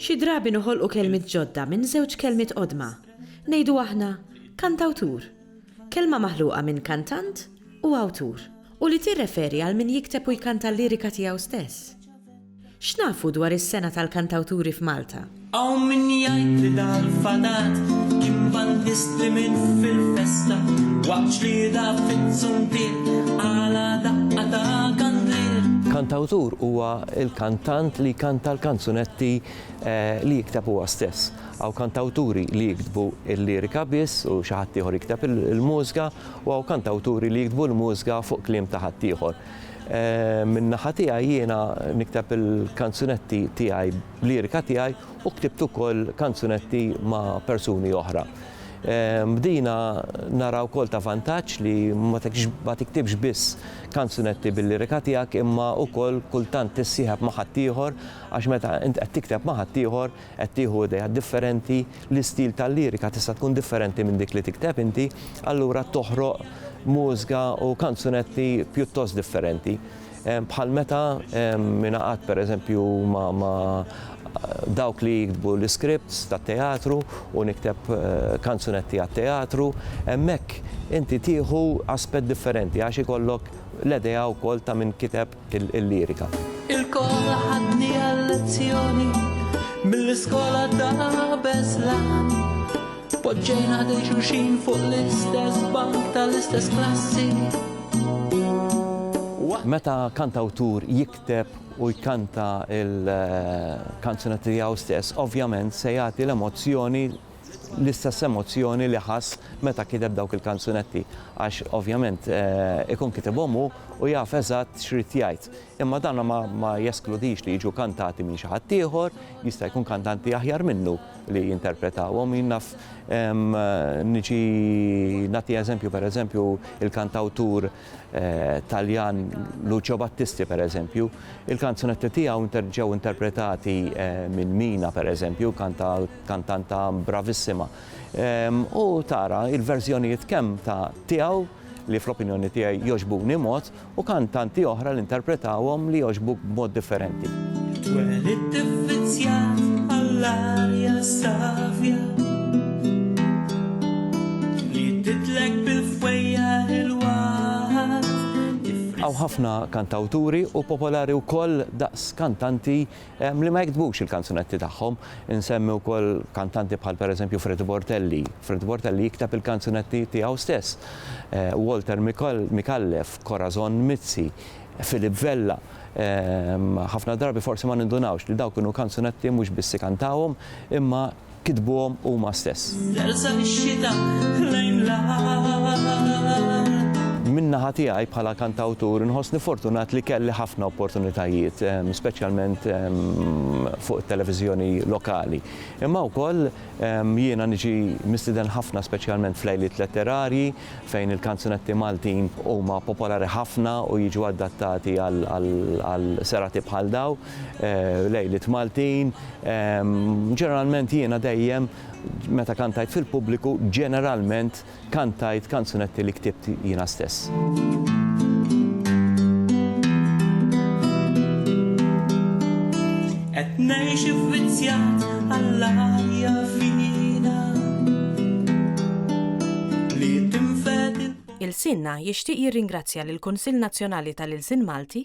Xi drabi noħolqu kelmiet ġodda minn żewġ kelmiet qodma. Ngħidu aħna, kantawtur. Kelma maħluqa minn kantant u awtur, u li tirreferi għal min jikteb u jkanta l-lirika tiegħu stess. X'nafu dwar is-Sena tal-Kantawturi f'Malta? Hawn min jgħid li dal-fatat kien bandisti minn fil-festa waqt ġlieda fiz-zuntier għala daqqa ta' kandlier. Kantawtur huwa l-kantant li jkanta l-kanzunetti li jikteb huwa stess. Hawn kantawturi li jiktbu l-lirika biss u xi ħaddieħor jikteb il-mużga u hawn kantawturi li jiktbu l-mużga fuq kliem ta' ħaddieħor. Min-naħa tiegħi jiena nikteb il-kanzunetti tiegħi b'lirika tiegħi u ktibt ukoll kanzunetti ma' persuni oħra. Bdina nara wkoll ta' vantaġġ li ma tiktibx biss kanzunetti bil-lirika tiegħek imma wkoll kultant tissieħeb ma' ħaddieħor għax meta int qed tikteb ma' ħaddieħor qed tieħu ideat differenti, l-istil tal-lirika tista' tkun differenti minn dik li tikteb inti, allura toħroq mużga u kanzunetti pjuttost differenti. Bħal meta ingħaqadt pereżempju ma' dawk li jiktbu l-iskripts tat-teatru u nikteb kanzunetti għat-teatru, hemmhekk inti tieħu aspett differenti għax ikollok l-idea wkoll ta' min kiteb il-lirika. Ilkoll ħadni għal-lezzjoni mill-iskola ta' Beslan. Poġġejna dej xulxin fuq l-istess bank tal-istess klassi. Meta kantawtur jikteb u jkanta il-kanzunetti tiegħu stess, ovvjament se jagħti l-emozzjoni l-istess emozzjoni li ħass meta kiteb dawk il-kanzunetti għax ovvjament ikun kitibhom hu u jaf eżatt x'ried jgħid. Imma dan ma jeskludix li jiġu kantati minn xi ħadd ieħor, jista' jkun kantanti aħjar minnu li jinterpretawhom. Jien naf niġi nagħti eżempju pereżempju l-kantawtur Taljan Lucio Battisti pereżempju, il-kanzunetti tiegħu ġew interpretati minn Mina pereżempju, kantanta bravissima. U tara il-verżjonijiet kemm ta' tiegħu li fl-opinjoni tiegħi jogħġbuni mod u kantanti oħra li interpretawhom li jogħġbuk b'mod differenti. Twelidt ivvizzjat għall-arja savja li titlek bil Hawn ħafna kantawturi u popolari wkoll daqs kantanti li ma jiktbux il-kanzunetti tagħhom. Insemmi wkoll kantanti bħal pereżempju Fred Bortelli. Fred Bortelli jikteb il-kanzunetti tiegħu stess. Walter Micallef, Corazon Mizzi, Philip Vella, ħafna drabi forsi ma nindunawx li dawk kienu kanzunetti mhux biss ikantawhom imma kitbuhom huma stess. Min-naħa tiegħi bħala kantawtur inħossni fortunat li kelli ħafna opportunitajiet, speċjalment fuq it-televiżjoni lokali. Imma wkoll jiena niġi mistieden ħafna speċjalment f'lejliet letterarji fejn il-kanzunetti Maltin huma popolari ħafna u jiġu adattati għal serati bħal dawn. Lejliet Maltin, ġeneralment jiena dejjem meta kantajt fil-pubbliku ġeneralment kantajt kanzunetti li ktibt jiena stess. Qed ngħix ivvizzjat għall-arja fina li tinfed il-Sinna jixtieq jirringrazzja lill-Kunsill Nazzjonali tal-Ilsien Malti